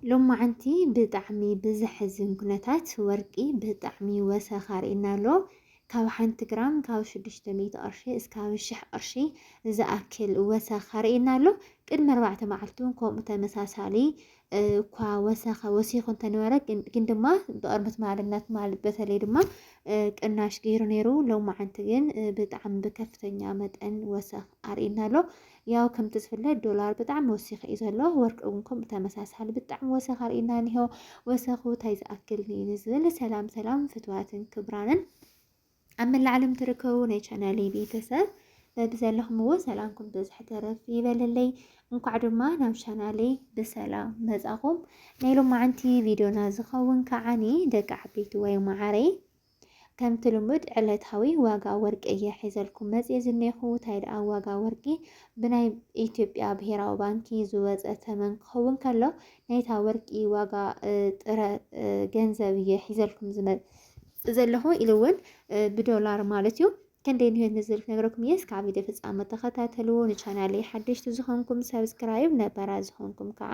ሎማዓንቲ ብጣዕሚ ብዘሕዝን ኩነታት ወርቂ ብጣዕሚ ወሰኻ ርኢና ኣሎ። ካብ ሓንቲ ግራም ካብ ሽዱሽተ ሚእቲ ቅርሺ እስካብ ሽሕ ቅርሺ ዝኣክል ወሰኻ ርኢና ኣሎ። ቅድሚ ኣርባዕተ መዓልቲ እውን ከምኡ ተመሳሳሊ እኳ ወሰኻ ወሲኹ እንተነበረ ግን ድማ ብቅርብት ማዕድናት ትማል በተለይ ድማ ቅናሽ ገይሩ ነይሩ። ሎማዓንቲ ግን ብጣዕሚ ብከፍተኛ መጠን ወሰኽ ኣርኢና ኣሎ። ያው ከምቲ ዝፍለጥ ዶላር ብጣዕሚ ወሲኹ እዩ ዘሎ ወርቂ እውን ከምኡ ተመሳሳሊ ብጣዕሚ ወሰኽ ኣርእዩና እኒሆ ወሰኹ ታይ ዝኣክል ንኢኒ ዝብል ሰላም ሰላም ፍትዋትን ክብራንን ኣብ መላእ ዓለም ትርከቡ ናይ ቻናለይ ቤተሰብ በብዘለኹምዎ ሰላምኩም ብዝሕ ተረፍ ይበለለይ እንኳዕ ድማ ናብ ቻናለይ ብሰላም መጻኹም ናይ ሎማዓንቲ ቪድዮና ዝኸውን ከዓኒ ደቂ ዓበይቲ ወይ መዓረይ ከምቲ ልሙድ ዕለታዊ ዋጋ ወርቂ እየ ሒዘልኩም መፂኤ ዝኔኹ ታይ ደኣ ዋጋ ወርቂ ብናይ ኢትዮጵያ ብሄራዊ ባንኪ ዝወፀ ተመን ክኸውን ከሎ ናይታ ወርቂ ዋጋ ጥረ ገንዘብ እየ ሒዘልኩም ዝመፅ ዘለኹ ኢሉ እውን ብዶላር ማለት እዩ ክንደይ ንህይወት ንዝብል ክነግረኩም እየ እስካብ ቪድዮ ፍፃመ ተኸታተልዎ ንቻናለይ ሓደሽቲ ዝኾንኩም ሰብስክራይብ ነበራ ዝኾንኩም ከዓ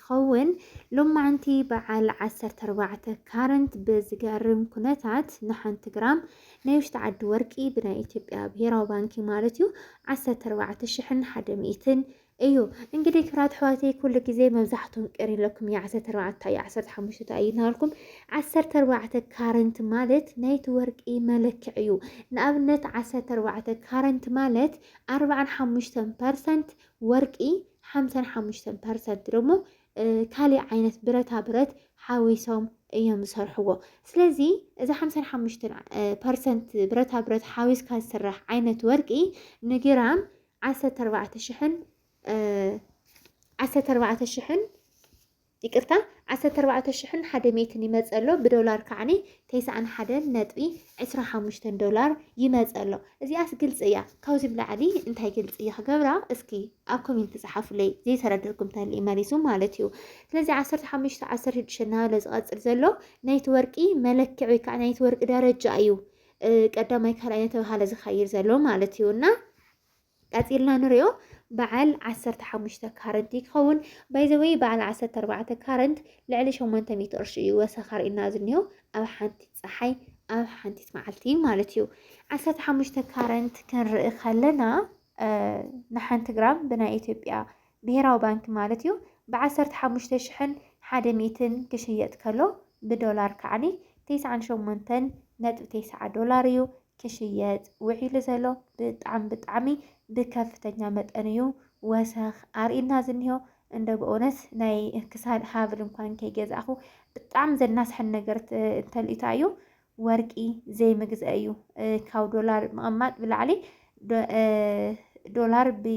ትኸውን ሎማዕንቲ በዓል ዓሰርተ ኣርባዕተ ካረንት ብዝገርም ኩነታት ንሓንቲ ግራም ናይ ውሽጢ ዓዲ ወርቂ ብናይ ኢትዮጵያ ብሄራዊ ባንኪ ማለት እዩ ዓሰርተ ኣርባዕተ ሽሕን ሓደ ሚእትን እዩ እንግዲህ ክብራት ኣሕዋተይ ኩሉ ግዜ መብዛሕትኩም ቅር ይለኩም እዩ ዓሰርተ ኣርባዕተ እዩ ዓሰርተ ሓሙሽተ እዩ እናበልኩም ዓሰርተ ኣርባዕተ ካረንት ማለት ናይቲ ወርቂ መለክዕ እዩ ንኣብነት ዓሰርተ ኣርባዕተ ካረንት ማለት ኣርባዓን ሓሙሽተን ፐርሰንት ወርቂ ሓምሳን ሓሙሽተን ፐርሰንት ደሞ ካሊእ ዓይነት ብረታ ብረት ሓዊሶም እዮም ዝሰርሕዎ ስለዚ እዚ ሓምሳን ሓሙሽተን ፐርሰንት ብረታ ብረት ሓዊስካ ዝስራሕ ዓይነት ወርቂ ንግራም ዓሰርተ ኣርባዕተ ሽሕን ዓሰርተ ኣርባዕተ ሽሕን ይቅርታ ዓሰርተ ኣርባዕተ ሽሕን ሓደ ሚእትን ይመጽእ ኣሎ ብዶላር ከዓኒ ተስዓን ሓደን ነጥቢ ዕስራ ሓሙሽተን ዶላር ይመጽእ ኣሎ እዚኣስ ግልጺ እያ ካብዚ ንላዕሊ እንታይ ግልጺ እየ ክገብራ እስኪ ኣብ ኮሜንቲ ጸሓፉለይ ዘይተረደርኩም ተልኢ መሊሱ ማለት እዩ ስለዚ ዓሰርተ ሓሙሽተ ዓሰርተ ሽዱሽተ እናበለ ዝቐጽል ዘሎ ናይቲ ወርቂ መለክዕ ወይ ከዓ ናይቲ ወርቂ ደረጃ እዩ ቀዳማይ ካልኣይ እናተባሃለ ዝኸይድ ዘሎ ማለት እዩ እና ቀጺልና ንሪኦ በዓል ዓሰርተ ሓሙሽተ ካረንት እዩ ክኸውን ባይዘወይ በዓል ዓሰርተ ኣርባዕተ ካረንት ልዕሊ ሸሞንተ ሚእቲ ቅርሺ እዩ ወሰኽ ኣርእዩና ዝኒሆ ኣብ ሓንቲ ፀሓይ ኣብ ሓንቲት መዓልቲ ማለት እዩ ዓሰርተ ሓሙሽተ ካረንት ክንርኢ ከለና ንሓንቲ ግራም ብናይ ኢትዮጵያ ብሄራዊ ባንኪ ማለት እዩ፣ ብ ዓሰርተ ሓሙሽተ ሽሕን ሓደ ሚእትን ክሽየጥ ከሎ ብ ዶላር ከዓኒ ተስዓን ሸሞንተን ነጥቢ ተስዓ ዶላር እዩ ክሽየጥ ውዒሉ ዘሎ። ብጣዕሚ ብጣዕሚ ብ ከፍተኛ መጠን እዩ ወሰኽ ኣርእዩና ዝኒሆ። እንደው በእውነት ናይ ክሳድ ሃብል እንኳን ከይገዛእኹ ብጣዕሚ ዘናስሐኒ ነገር እንተልዩ ታይ እዩ ወርቂ ዘይምግዘእ እዩ። ካብ ዶላር ምቕማጥ ብላዕሊ ዶላር ብ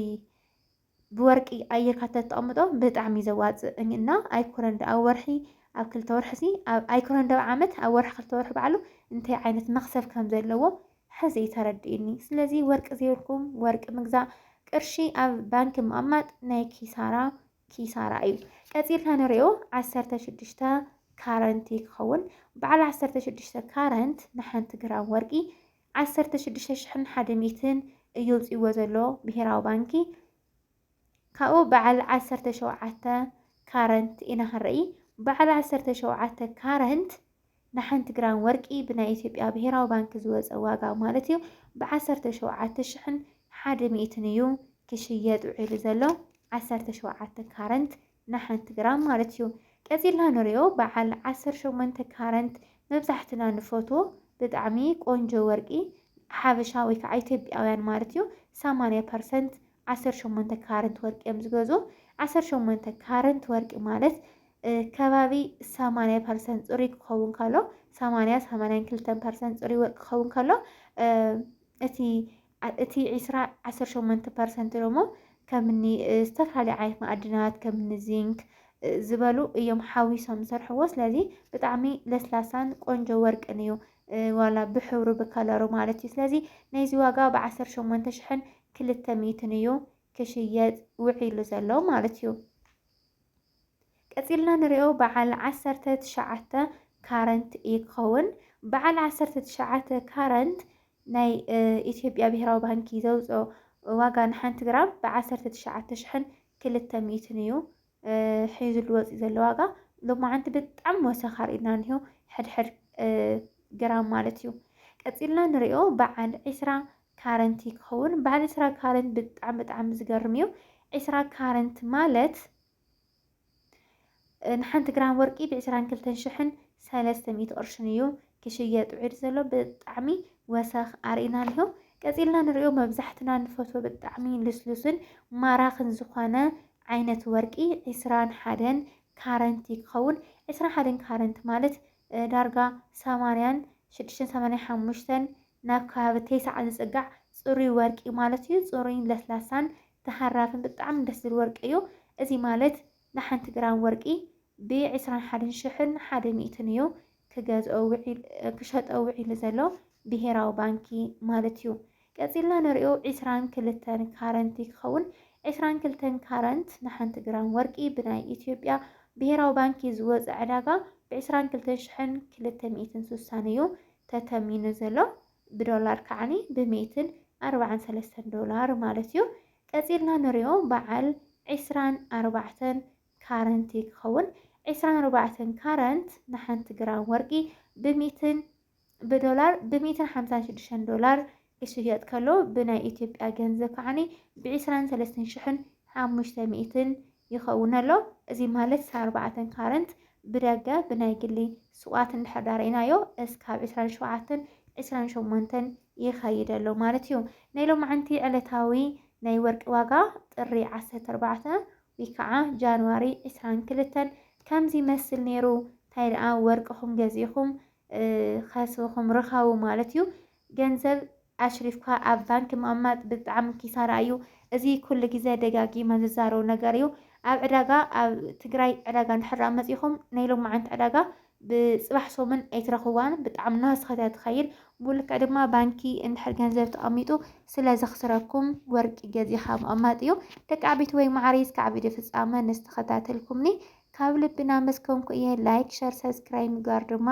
ብወርቂ ኣየርካ ተተቅምጦ ብጣዕሚ እዩ ዘዋፅእ እኝ እና ኣይኮነን ዶ ኣብ ወርሒ ኣብ ክልተ ወርሒ ሲ ኣብ ኣይኮነን ዶ ኣብ ዓመት ኣብ ወርሒ ክልተ ወርሒ ባዕሉ እንታይ ዓይነት መክሰብ ከም ዘለዎ ሕዚ እዩ ተረዲኡኒ ስለዚ ወርቂ ዘይብልኩም ወርቂ ምግዛእ ቅርሺ ኣብ ባንኪ ምቅማጥ ናይ ኪሳራ ኪሳራ እዩ ቀፂልና ንሪኦ ዓሰርተ ሽዱሽተ ካረንት እዩ ክኸውን በዓል ዓሰርተ ሽዱሽተ ካረንት ንሓንቲ ግራም ወርቂ ዓሰርተ ሽዱሽተ ሽሕን ሓደ ሚእትን እዩ ኣውጺእዎ ዘሎ ብሄራዊ ባንኪ ካብኡ በዓል ዓሰርተ ሸውዓተ ካረንት ኢና ክንርኢ በዓል ዓሰርተ ሸውዓተ ካረንት ንሓንቲ ግራም ወርቂ ብናይ ኢትዮጵያ ብሄራዊ ባንኪ ዝወፀ ዋጋ ማለት እዩ ብዓሰርተ ሸውዓተ ሽሕን ሓደ ሚእትን እዩ ክሽየጥ ውዒሉ ዘሎ ዓሰርተ ሸውዓተ ካረንት ንሓንቲ ግራም ማለት እዩ። ቀጺልና ንሪኦ በዓል ዓሰርተ ሸሞንተ ካረንት መብዛሕትና ንፈትዎ ብጣዕሚ ቆንጆ ወርቂ ሓበሻ ወይ ከዓ ኢትዮጵያውያን ማለት እዩ ሰማንያ ፐርሰንት ዓሰርተ ሸሞንተ ካረንት ወርቂ እዮም ዝገዝኡ። ዓሰርተ ሸሞንተ ካረንት ወርቂ ማለት ከባቢ ሰማንያ ፐርሰንት ፅሩይ ክኸውን ከሎ ሰማንያ ሰማንያን ክልተን ፐርሰንት ፅሩይ ወርቂ ክኸውን ከሎ እቲ እቲ ዕስራ ዓሰርተ ሸሞንተ ፐርሰንት ደሞ ከምኒ ዝተፈላለዩ ዓይነት መኣድናት ከምኒ ዚንክ ዝበሉ እዮም ሓዊሶም ዝሰርሕዎ። ስለዚ ብጣዕሚ ለስላሳን ቆንጆ ወርቅን እዩ ዋላ ብሕብሩ ብከለሩ ማለት እዩ። ስለዚ ናይዚ ዋጋ ብዓሰርተ ሸሞንተ ሽሕን ክልተ ሚእትን እዩ ክሽየጥ ውዒሉ ዘሎ ማለት እዩ። ቀጺልና ንሪኦ በዓል ዓሰርተ ትሽዓተ ካረንት እዩ ክኸውን። በዓል ዓሰርተ ትሽዓተ ካረንት ናይ ኢትዮጵያ ብሄራዊ ባንኪ ዘውፅኦ ዋጋ ንሓንቲ ግራም ብዓሰርተ ትሽዓተ ሽሕን ክልተ ሚእትን እዩ ሒዙሉ ወፂኡ ዘሎ ዋጋ ሎማዓንቲ ብጣዕሚ ወሰኻ ርኢና እኒሆ ሕድሕድ ግራም ማለት እዩ። ቀፂልና ንሪኦ በዓል ዒስራ ካረንት እዩ ክኸውን በዓል ዕስራ ካረንት ብጣዕሚ ብጣዕሚ ዝገርም እዩ ዕስራ ካረንት ማለት ንሓንቲ ግራም ወርቂ ብዕስራን ክልተን ሽሕን ሰለስተ ሚእቲ ቅርሽን እዩ ክሽየጥ ውዒሉ ዘሎ ብጣዕሚ ወሰኽ ኣርእና ኣሎ ቀፂልና ንሪኦ መብዛሕትና ንፈትዎ ብጣዕሚ ልስሉስን ማራኽን ዝኾነ ዓይነት ወርቂ ዕስራን ሓደን ካረንት ክኸውን ዕስራ ሓደን ካረንት ማለት ዳርጋ ሰማንያን ሽዱሽተን ሰማንያ ሓሙሽተን ናብ ከባቢ ቴስዓ ዝጽጋዕ ጽሩይ ወርቂ ማለት እዩ። ጽሩይን ለስላሳን ተሃራፍን ብጣዕሚ ደስ ዝብል ወርቂ እዩ። እዚ ማለት ንሓንቲ ግራም ወርቂ ብ ዕስራን ሓደን ሽሕን ሓደ ሚእትን እዩ ክገዝኦ ውዒል ክሸጦ ውዒሉ ዘሎ ብሄራዊ ባንኪ ማለት እዩ። ቀጺልና ንሪኦ ዕስራን ክልተን ካረንት ይከውን። ዕስራን ክልተን ካረንት ንሓንቲ ግራም ወርቂ ብናይ ኢትዮጵያ ብሄራዊ ባንኪ ዝወጸ ዕዳጋ ብዕስራን ክልተን ሽሕን ክልተ ሚእትን ሱሳን እዩ ተተሚኑ ዘሎ። ብዶላር ከዓኒ ብሚእትን ኣርባዓን ሰለስተን ዶላር ማለት እዩ። ቀጺልና ንሪኦ በዓል ዕስራን ኣርባዕተን ካረንት ይከውን። ዕስራን ኣርባዕተን ካረንት ንሓንቲ ግራም ወርቂ ብሚእትን ብዶላር ብ ሚእትን ሓምሳን ሽዱሽተን ዶላር ክሽየጥ ከሎ ብናይ ኢትዮጵያ ገንዘብ ከዓኒ ብ ዕስራን ሰለስተን ሽሕን ሓሙሽተ ሚእትን ይኸውን ኣሎ። እዚ ማለት እስከ ኣርባዕተን ካረንት ብደገ ብናይ ግሊ ሱቓት እንድሕር ዳ ርኢናዮ እስካብ ዕስራን ሸውዓተን ዕስራን ሸሞንተን ይኸይድ ኣሎ ማለት እዩ። ናይ ሎምዓንቲ ዕለታዊ ናይ ወርቂ ዋጋ ጥሪ ዓሰርተ ኣርባዕተ ወይ ከዓ ጃንዋሪ ዕስራን ክልተን ከምዚ ይመስል ነይሩ። ታይ ደኣ ወርቅኹም ገዚእኹም ከስብኹም ርኸቡ ማለት እዩ። ገንዘብ ኣሽሪፍካ ኣብ ባንኪ ምቕማጥ ብጣዕሚ ኪሳራ እዩ። እዚ ኩሉ ግዜ ደጋጊመ ዝዛረቡ ነገር እዩ። ኣብ ዕዳጋ ኣብ ትግራይ ዕዳጋ እንድሕር ደኣ መጺኹም ናይ ሎማዓንቲ ዕዳጋ ብጽባሕ ሰሙን ኣይትረኽብዋን ብጣዕሚ ናህስኸት እያ ትኸይድ። ብልክዕ ድማ ባንኪ እንድሕር ገንዘብ ተቐሚጡ ስለ ዘኽስረኩም ወርቂ ገዚኻ ምቕማጥ እዩ። ደቂ ዓበይቲ ወይ ማዕረይ እስካዕ ቪድዮ ፍጻመ ንስ ተኸታተልኩምኒ ካብ ልቢ ናመስከንኩ እየ ላይክ ሸር ሰብስክራይብ ምግባር ድማ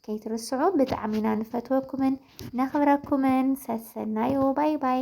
ከይትርስዑ ብጣዕሚ ኢና ንፈትወኩምን ነኽብረኩምን ሰሰናዩ ባይ ባይ